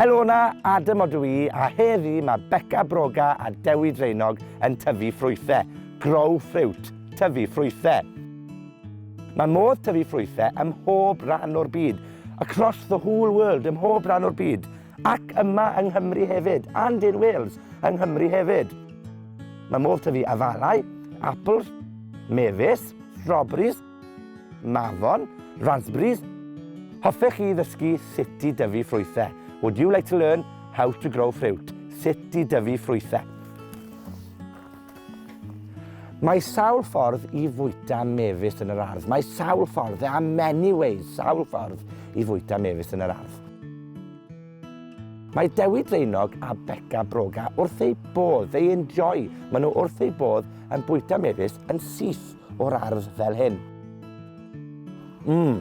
Helo na, Adam odw i, a heddi mae Becca Broga a Dewi Dreinog yn tyfu ffrwythau. Grow fruit, tyfu ffrwythau. Mae modd tyfu ffrwythau ym mhob rhan o'r byd, across the whole world, ym mhob rhan o'r byd. Ac yma yng Nghymru hefyd, and in Wales, yng Nghymru hefyd. Mae modd tyfu afalau, apples, mefus, strawberries, mafon, raspberries. Hoffech chi ddysgu sut i dyfu ffrwythau? Would you like to learn how to grow fruit? Sut i dyfu ffrwythau? Mae sawl ffordd i fwyta mefus yn yr ardd. Mae sawl ffordd, there are many ways, sawl ffordd i fwyta mefus yn yr ardd. Mae Dewi Draenog a Beca Broga wrth eu bodd, they enjoy, maen nhw wrth eu bodd yn bwyta mefus yn syth o'r ardd fel hyn. Mmm,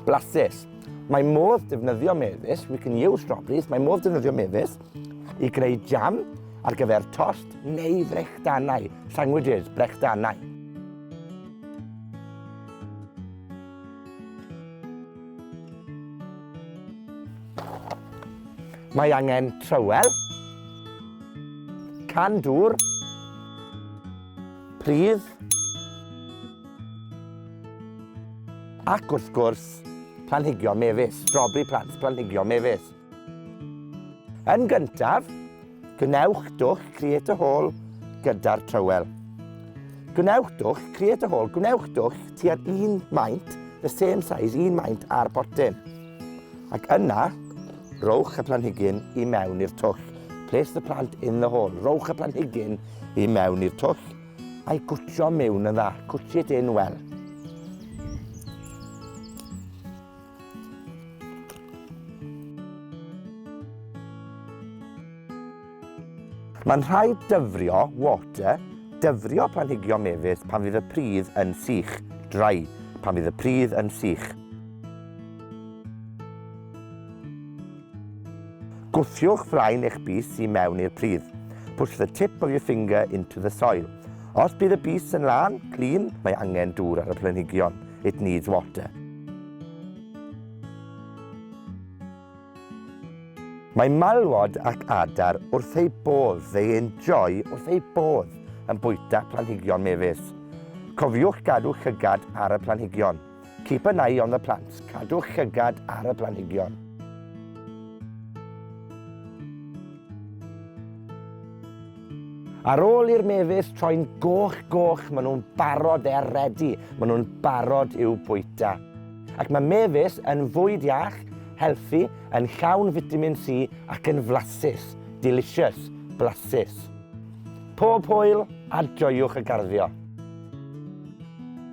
blasus. Mae modd defnyddio mefus, we can use strawberries, mae modd defnyddio mefus I greu jam ar gyfer tost neu frechdanau, sandwiches, brechdanau. Mae angen trywel, can dŵr, pridd, ac wrth gwrs, planhigion mefus, strawberry plants, planhigion mefus. Yn gyntaf, gwnewch dwll Create a Hole gyda'r trywel. Gwnewch dwll Create a Hole, gwnewch dwll tua'r un maint, the same size, un maint ar botyn. Ac yna, rowch y planhigyn i mewn i'r twll. Place the plant in the hole. Rowch y planhigyn i mewn i'r twll a'i gwtio mewn yn dda. Gwtio dyn wel. Mae'n rhaid dyfrio, water, dyfrio planhigion mefus pan fydd y pridd yn sych, dry, pan fydd y pridd yn sych. Gwthiwch flaen eich bys i mewn i'r pridd. Push the tip of your finger into the soil. Os bydd y bys yn lân, clean, mae angen dŵr ar y planhigion. It needs water. Mae malwod ac adar wrth eu bodd, they enjoy wrth eu bodd, yn bwyta planhigion mefus. Cofiwch gadw llygad ar y planhigion. Keep an eye on the plants, cadwch llygad ar y planhigion. Ar ôl i'r mefus troi'n goch goch, maen nhw'n barod er ready, maen nhw'n barod i'w bwyta. Ac mae mefus yn fwyd iach, healthy, yn llawn vitamin C ac yn flasus, delicious, blasus. Pob hwyl a joiwch y garddio!